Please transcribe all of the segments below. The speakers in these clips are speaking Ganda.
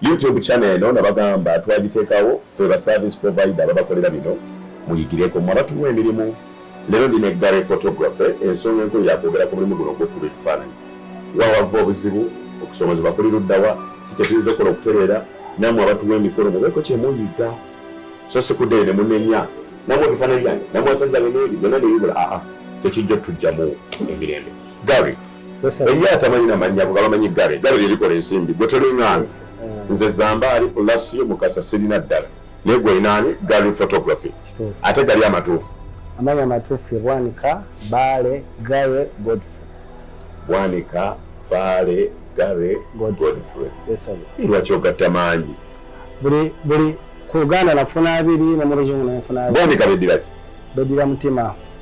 YouTube channel eno nabagamba twagitekawo ffe ba service provider babakolera bino muyigireko mwe abatuwa emirimu lero ndi ne Gary photography ensonga enkulu yakwogera ku mulimu guno ogwokuba ekifaananyi wawava obuzibu okusomozebwa kuli luddawa kikyetuyinza okukola okutereera namwe abatuwa emikolo mubeeko kyemuyiga so sikuddeyo ne munenya namwe ebifaananyi byange namwe asajja beneeri byonna nebibula aa kyekijja otujjamu emirembe Gary eriyo atamanyi namanya kuba bamanyi gale gale lyerikola ensimbi gwe tolinganze mm. nze zambaali olasiyo mukasa sirina ddala naye gwe inaani gali photography ate gali amatuufu amanya amatuufu ye bwanika baale gale godfrey bwanika baale gale godfrey lwaki ogatta maanyi buli buli ku uganda nafuna abiri ne mu luzungu nenfuna abiri bwanika bediraki bedira mutima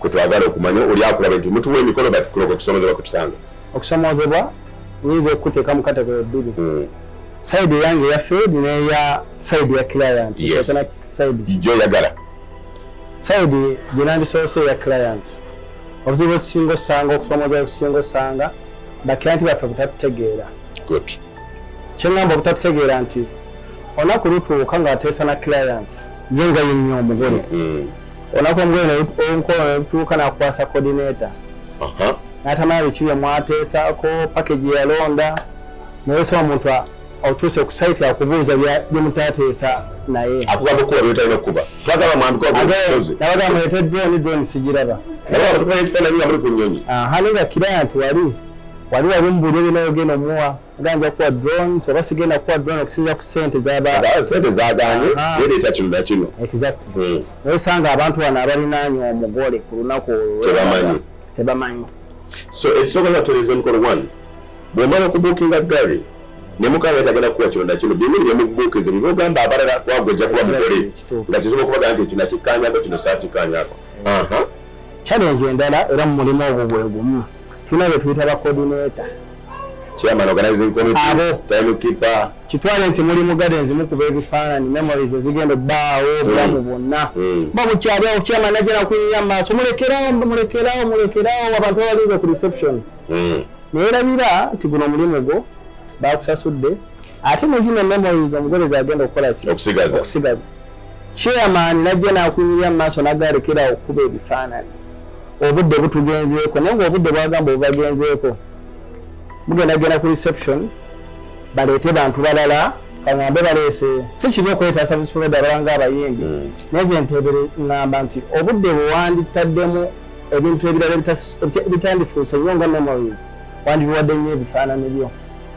kwe twagala okumanya oli akulaba nti mutuwa emikolo bati kuloka okusomozebwa kwe tusanga okusomozebwa nyinza okukuteeka mu kategori bbiri hmm. sayidi eyange eya field neya sayidi ya client gyoyagala sayidi gyenandisoose eya client obuzibu ekisinga osanga okusomozebwa ekisinga osanga bakiranti baffe butatutegeera kyeŋamba obutatutegeera nti olunaku lutuuka ng'ateesa na client ye nga yennya omugole hmm. olunaku olunkolo nelutuuka nakukwasa coordinator natamala biki bye mwateesaako package yalonda nayesa omuntu otuuse ku site akubuuza byemutateesa naye akugamba okukuba byotalina okukuba twagala mwambikaosozi nabaga mulete drone drone sigiraba ekifaananyi nga muli ku nyonyi hali nga kira nti wali wali wali mubuulire binaogenda omuwa ganja kuwa drone oba sigenda kuwa drone okusinzira ku sente zaba sente zaganye yereeta kino na kino exactly hmm. naye osanga abantu bano abalinaanyi omugole ku lunaku olwo tebamanyi tebamanyi so ekisooka nga tutereeza emikolo one bwemala okubuukinga gary ne mukama tagenda kuwa kino na kino byengeri byemubuukize bye byogamba abalala kwagwe ojja kuba mugole nga kisobola okubaga nti ekyo nakikkaanyako kino saakikkaanyako challenge endala era mu mulimu ogwo gwe gumu tulina be tuyita ba coordinator chairman organizing committee abo time keeper kitwale nti muli mugade nzimu kuba ebifaananyi memories ezigenda obbaawo mm. obulamu bwonna mm. ba bukyali awo chairman ajjana kuyinya maaso mulekerawo mulekerawo mulekerawo abantu abalize ku reception mm. naye labira nti guno omulimu gwo bakusasudde ate nezino memories omugole zagenda okukola ki okusigaza chairman najja nakunyirira mu maaso nagarekera okukuba ebifaananyi obudde butugenzeeko naye nga obudde bwagamba obubagenzeeko mugenda genda ku reception baleete bantu balala kaŋambe baleese si kibi okwetaasa bisoloda abalanga abayimbi hmm. naye ze ntebere ŋŋamba nti obudde bwewanditaddemu ebintu ebirala ebitandifuuse nnyo nga memories wandibiwadde nnyo ebifaananyi byo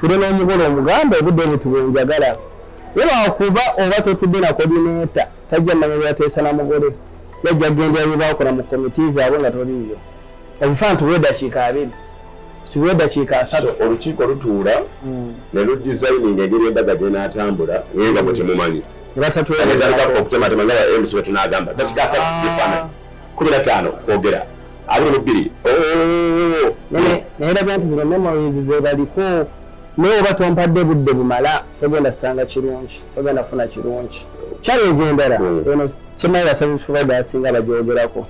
tule n'omugole omuganda obudde buti bwenjagala webakuba oba totudde na kodineta tajja manya byateesa na mugole yajja gendera byebakola mu komiti zaabwe nga toliiyo ebifaana tuwa eddakiika abiri tuwa eddakiika asatu olukiiko lutuula hmm. ne ludisayininga engeri embaga gyenaatambula naye nga mwe temumanyi nebatatulaatandika fe okutematema nga ba mc betunagamba dakika asatu bifaananyi kumi na ttaano kwogera abiri mu bbiri oh! naye labya nti zino memories zebaliko naye oba tompadde budde bumala togenda sanga kirungi togenda funa kirungi challenge endala hmm. eno kimanyi baservice provider asinga bagyogerako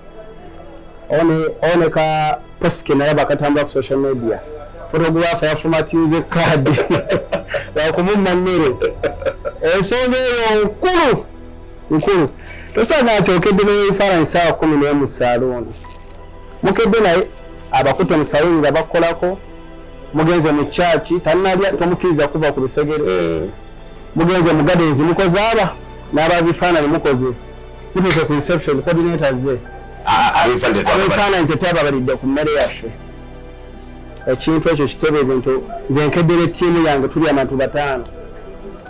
oneka posike naye bakatambula ku social media fotografa yafumatinze kaadi wakumumma mmere ensonga eyo nkulu nkulu tosanga nti okedde nebifaananyi saawa kumi naye mu saluuni mukedde naye abakutte mu saluuni nga bakukolako mugenze mu kyaki tanalya tomukkiriza kuva ku lusegere eh. mugenze mu gadenzi mukoze aba n'ababifaananyi mukoze mutuuse ku reception coordinator ze abifaananyi tetwababalidde ku mmere yaffe ekintu ekyo kitebeeze nti nze nkeddere ttiimu yange tuli abantu bataano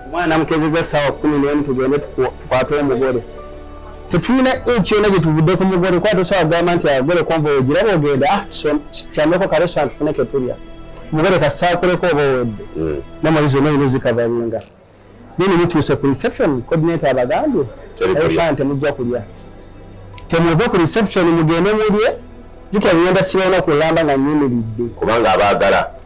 omwana namukezeza saawa kumi nemu tugende tukwate omugole tetulina enki yona gyetuvudde ku mugole kuba tosobola kugamba nti agole konva ogiraba ogenda ah, kyameko karesant fune ketulya omugole kasaakuleko oba owedde hmm. namali zona yino zikavalinga nene mutuuse ku reception coordinator abagambye efa nti mujja kulya temuve ku reception mugende mulye jukira ngenda sibona kulamba nga nyimiridde kubanga abaagala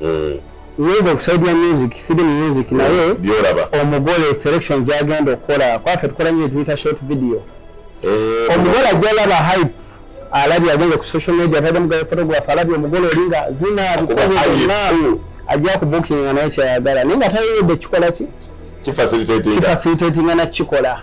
mm. wave of side ya music sidi music mm. naye byoraba omugole selection gyagenda okukola kwafe tukola nyo tuyita short video eh, omugole ajja laba hype alabye agenda ku social media atadde mugabe photograph alabye omugole olinga zina bikozenalu ajja ku bookinga naye kyayagala naye nga tayeyedde kikola ki kifacilitatinga nakikola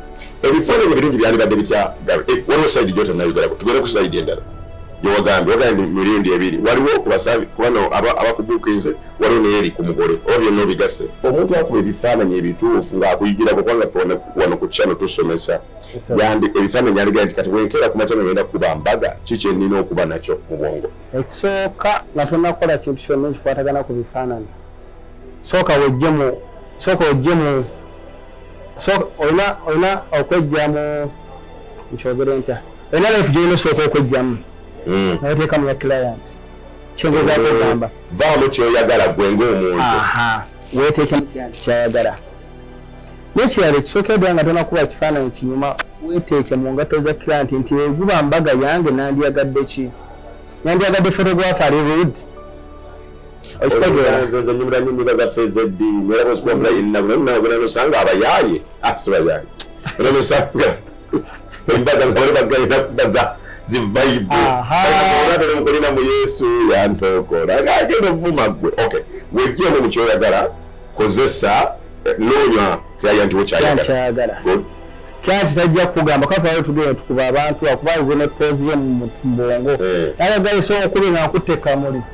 ebifaananyi ebirungi byandibadde bitya gabe eh, waliwo sayidi gyota nayogerako tugere ku sayidi endala gyewagambye wagambye mirundi ebiri waliwo kubasabi kubano abakubuukirize waliwo naye eri ku mugole oba byonna obigasse omuntu akuba ebifaananyi ebituufu ng'akuyigirako kubanga fe wano ku kyano tusomesa yandi ebifaananyi aligaa nti kati wenkeera ku makyano genda kuba mbaga ki kyenina okuba nakyo mu bwongo ekisooka nga tonakola kintu kyonna ekikwatagana ku bifaananyi sooka wejjemu sooka wejjemu so olina olina okwejja mu nkyogere ntya olina life gyolina osooka okwejjamu hmm. naweteeka mu ya client kyengezaako hmm. ogamba vaamu kyoyagala gwe ngaomuntu weteekemu client kyayagala nekirala ekisooka edda nga tonakuba ekifaananyi kinyuma weteeke mu ngatto za client nti eguba mbaga yange nandyagadde ki nandyagadde photograph ali rude nze nyumira nyo nyimba zaffe ezeddiini era bwezikuba mulayirinamu naye nawe bwena nosanga abayaaye asi ah, bayaaye era nosanga embaga nga bali bagayina kubaza zivaibuamukolina mu yesu yantokola agenda ovuma gwe ok wejjemu mu kyoyagala kozesa eh, noonya kyaya nti wekyayagala kyati tajja kugamba kafayo tugenda tukuba abantu akubanze ne poozi ye mu bwongo eh. ayagala esobola okuba nga nkutte kamuli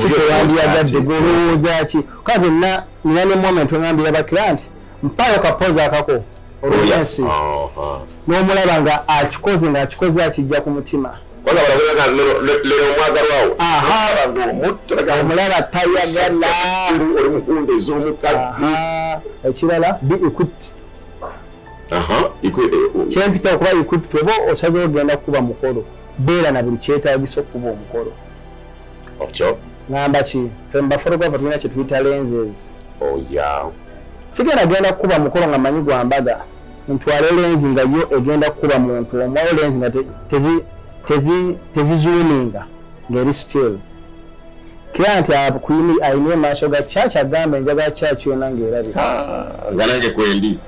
kikyewandiyagadde gwolowooza ki ka byonna nina ne moment wengambira bakira nti mpayo kapozi akako olwensi n'omulaba nga akikoze nga akikoze akijja ku mutima omulaba tayagalaekirala bi equip kyempita okuba equip oba osaze ogenda kukuba mukolo beera na buli kyetagisa okukuba omukolo okyo ngamba ki fe mubafotographe tulina kyetuyita lenses oya oh, sigenda genda kukuba mukolo nga manyi gwa mbaga ntwale lenzi nga yo egenda kukuba muntu omwayo lenzi nga tezizuuminga ngaeri still kira nti ayina emaaso ga church agambe enjaga church yona ngaerabika ah, nga nange kwendi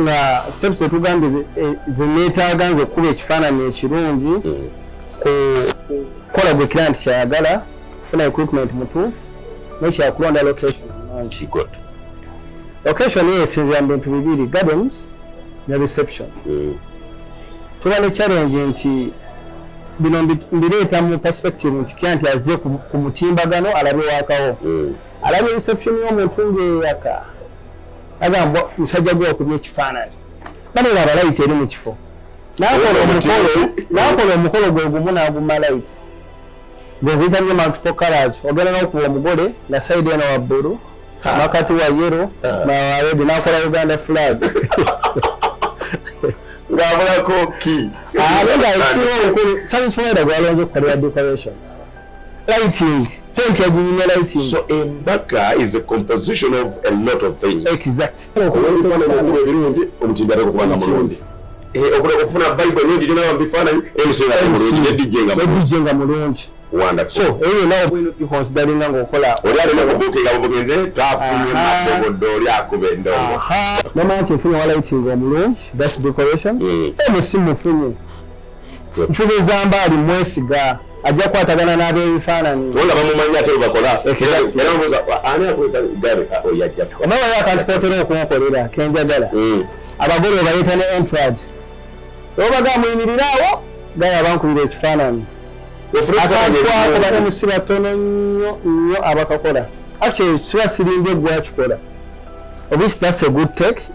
nga steps etugambye zeneetaaga nze okukuba ekifaananyi ekirungi mm. kukola gwe client kyayagala kufuna equipment mutuufu nekyakulonda location nungi location eyo esinzira mu bintu bibiri gardens ne reception mm. tuba ne challenge nti bino mbireeta mu perspective nti client azze ku mutimbagano alabe wakawo mm. alabye reception y'omuntu ng'eyaka agamba musajja gwe wakubye ekifaananyi banera abalayiti eri mu kifo n'akola omukolo gwe gumu n'aguma layiti nze nzitamye multiple colors ogenda n'okuba omugole nga sayidi eno wa bbulu makati wa yero nawawedi n'akola uganda flag ng'abulako ki abe nga ekiwa obukulu sabisimweda gwalonze okukolera decoration lighting tent yaginyumya lighting so embaga is a composition of a lot of things exactly okufuna okuba ebirungi omutindo ate okuba nga mulungi eh, okufuna vibe enungi gyona mubifaananyi mcmulungi ne nga mulungi wonderful so eyo yona obwino bikonsidalinga ngaokola oli alina kubuukinga bubugenze twafunye mabogodde oli akuba endongo mama nti nfunye wa lighting omulungi that's decoration mm. emusimufunye nfuba ezamba ali mwesiga ajja kwatagana n'abebifaananyi olaba mumanyi ate webakola onawayo akantu kotera okunkolera kenjagala hmm. abagole obayita ne entrad obaga muyimiriraawo gaya abankubira ekifaananyi akantuakobatemusi batono nnyo nnyo abakakola actually siba sirimbye gwakikola obisi that's a good take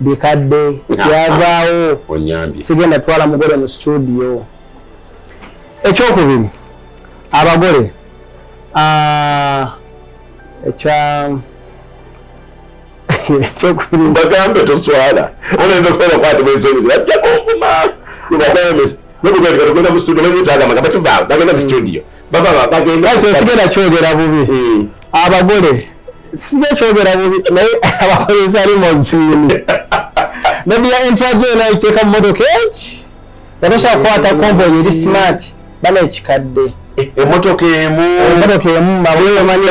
bikadde byavaawo sigenda twala mugole mu situdiyo ekyokubiri abagole ekya bagambe toswala olenza okubeera kwati bwensonyi bajja kunvuma bagambe nobugenda mu studio nebutagamba nga batuvaawo bagenda mu studio mm. sigenda kyogera bubi hmm. abagole sija kyogera bubi naye abakozesa limonsiini nebya entyajo ena ekiteeka mu motoka eki yatosha kukwata konvoyi eri smart bana ekikadde emotoka emu emotoka emu mabumanyi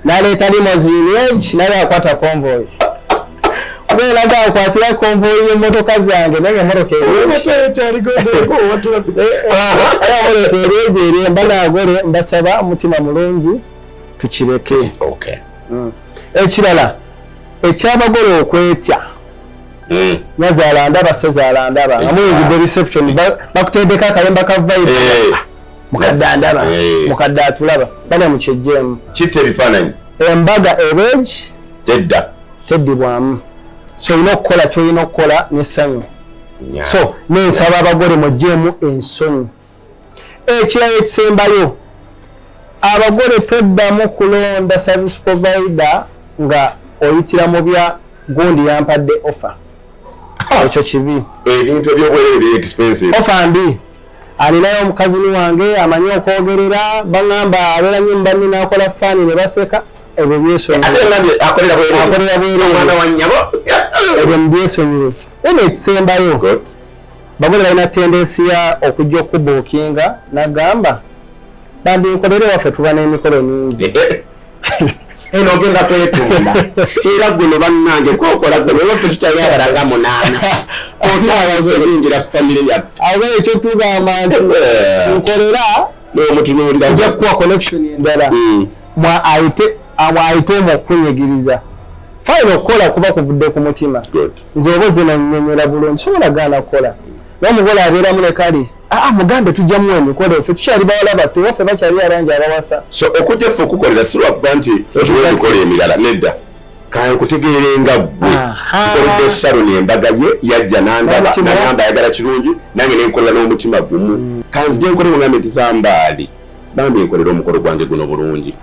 naleeta limoziini enki naye akwata konvoyi bwelaga akwatira konvoyi y'emmotoka zange naye emmotoka eryejo erye mba nagole mbasaba omutima mulungi tukireke hmm. ekirala ekyabagole okwetya hmm. nazaala ndaba sezaala ndaba nga muyingidde reception bakutendeka akayemba ka vibe eh. mukadde andaba eh. mukadde atulaba bana mukyejjeemu kitta ebifaananyi embaga ebeegi tedda teddibwamu kyolina okukola kyolina okukola nesanyu so nensaba abagole mujjeemu ensonyi ekirala ekisembayo abagole toddamu kulonda service provider nga oyitira mu bya gundi yampadde offer ekyo kibi ebintu ebyobwerere bye expensive offer mbi alinayo omukazini wange amanyi okwogerera baŋamba abeera nyo mubanni nakola faani ne baseka ebyo byesonyireakolera bwereebyo mubyesonyire ena ekisembayo bagole balina tendensiya okujja okubuukinga nagamba bambi nkolere waffe tuba n'emikolo mingi eh, eh. eno ogenda kwetunda era guno bannange kwokola gwe naye ffe tukyayabala nga munaana otawazoyingira famire yaffe abe ekyo tugamba nti eh. nkolera nomutunuulira oja kuwa connection endala hmm. mwaayite amwayite omu okukunyigiriza fayina okukola kuba kuvudde ku mutima nze oba oze nanyonyola bulungi sobola gaana kukola naye omugole abeeramu ne kale aa ah, mugambe tujjamu emikolo ffe tukyali bawala batto waffe bakyali abangi abawasa so okujja ffe okukukolera si lwakuba nti otuwa emikolo emirala nedda kankutegeere nga ggwe tukoledde saroni embaga ye yajja nandaba nagamba ayagala kirungi nange nenkolera n'omutima gumu hmm. kanzija enkole mugambe nti zambaali bambi enkolera omukolo gwange guno bulungi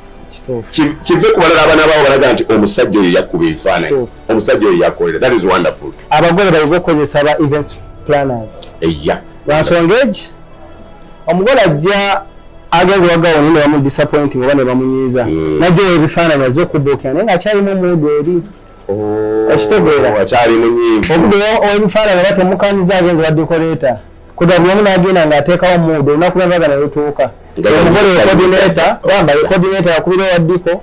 kive ku balala abana bawo balaga nti omusajja oyo yakkuba ebifaananyi omusajja oyo yakolera that is wonderful abagole bayige okukozesa aba event planners eya lwansonga egi omugole ajja agenze wagawo nyo nebamu disappointing oba nebamunyiiza mm. najja oyo ebifaananyi azze okubuukira naye nga akyalimu omuudu eri oh, okitegeera obude owebifaananyi era temukanyiza agenze wa decorator kudabyamu nagenda nga ateekawo muudu olunaku lwavaga nelutuuka omugole wekodineta gamba wekodineta yakubira owaddiko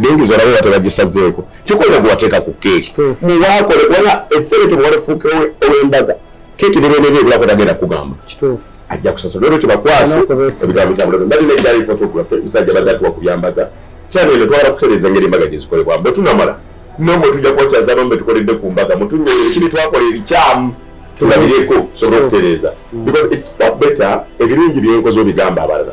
dengizo olaba oba tebagisazeeko kikola gwewateeka ku keeki muwakole kubanga ekiseera ekyo muwalefuuka ow'embaga keeki nebenebe ebulako tagenda kugamba ajja kusasula olwekyo bakwasi ebigambo bitambula mbali nekyali photography musajja badde atuwa ku byambaga kyano eno twala kutereeza ngeri embaga gyezikolebwa mbe tunamala nomwe tujja kubakyazaamu mbe tukoledde ku mbaga mutunyole ekibi twakola ebikyamu tulabireko sobola okutereeza mm. because its far better ebirungi byenkoze obigamba abalala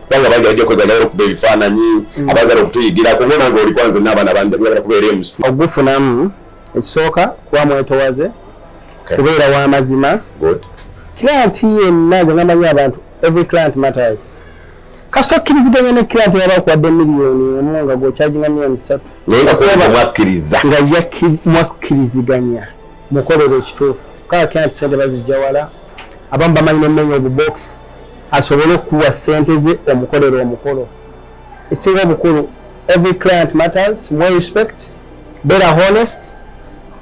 kubanga bangi bajja kwegana era okuba ebifaananyi mm. abagala okutuyigirako ngona nga oli kwanze n'abaana bangi abagala kubeera emusi ogufunamu ekisooka kuba mwetowaze kubeera wa mazima client yenna nze namanyi abantu every client matters kasita okkiriziganya ne client yaba okuwadde miliyoni emu nga gwokyajinga miliyoni satu nga mwakkiriziganya mukolero ekituufu kaa client sente bazijja wala abamu bamanyi nemenya obubokisi asobole okukuwa sente ze omukolera omukolo esinga obukulu every client matters more respect better honest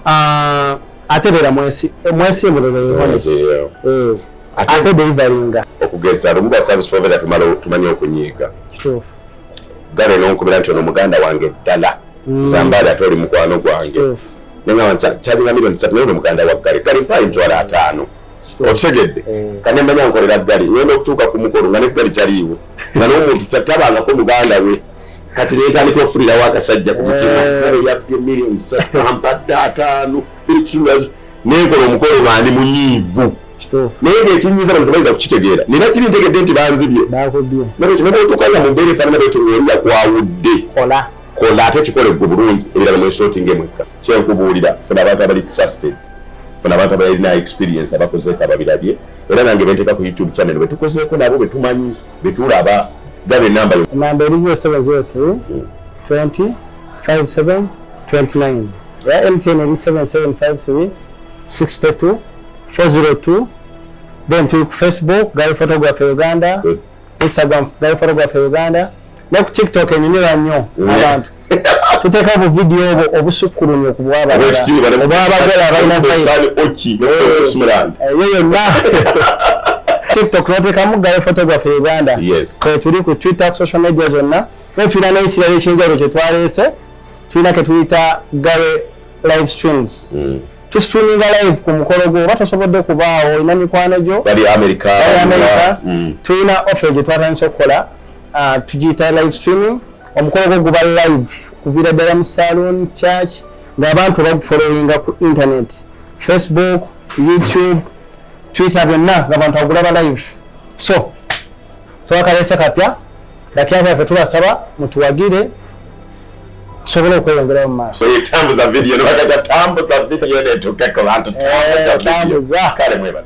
uh, ate beera mwesi mwesi mulebe honest eh, ate deliverynga okugeza lumu ba service provider tumala tumanyi okunyiiga kituufu gale nonkubira nti ono muganda wange ddala mm. zambaali ate oli mukwano gwange nengamba nti kyalina milioni satu naye ono muganda wa gale gale mpaayi mitwalo ataano okitegedde eh. kane manya nkolera ggali ngenda okutuuka ku mukolo nga neggali taliiwo nga n'omuntu tatabangako muganda we kati netandika ofulirawo akasajja ku mutima eh. yabbye milioni satu ampadde ataano ekitulazo nenkola omukolo bandi munyiivu naye ngaekinyiza bantu bayinza kukitegeera nina kiri ntegedde nti banzibye nolwekyo nobaotukanga mu mbeera efaanana bwetyo ngaoli yakwawudde kola ate kikole gwe bulungi ebirala mwesootinga emwekka kyenkubuulira funa abantu abali trusted funa abantu abalina experience abakozeeko ababirabye era nange benteeka ku youtube channel betukozeeko nabo betumanyi betulaba gabe enamba yo namba erizo esaba zeefu 20 57 29 ya mtn eri 7753 62 402 then tuli ku facebook gali photography uganda Good. instagram naye foro gwaffe uganda ne ku tiktok enyumira nnyo abantu tuteeka obu vidiyo obwo obusukkulumye ku bwabaobwabagala abalina eyo yonna tiktok noteekamu gayo photography uganda kwetuli ku twitter ku social media zonna naye tulina n'ekirala ekyenjawulo kyetwaleese tulina ketuyita gare live streams mm. to streaming live ku mukolo gwo oba tosobodde kubaawo olina mikwano gyo bali america bali america mm. tulina offer gye twatandise okukola uh, tugiyita live streaming omukolo gwo guba live kuviira ddala mu saloon church ng'abantu bagufolowinga ku internet facebook youtube twitter byonna ng'abantu agulaba live so twakalese kapya Dakiya baffe tubasaba mutuwagire tusobole okweyongerayo mu maaso. Tambuza vidiyo ne bagata tambuza vidiyo netuke ku bantu tambuza eh, kale mwebale.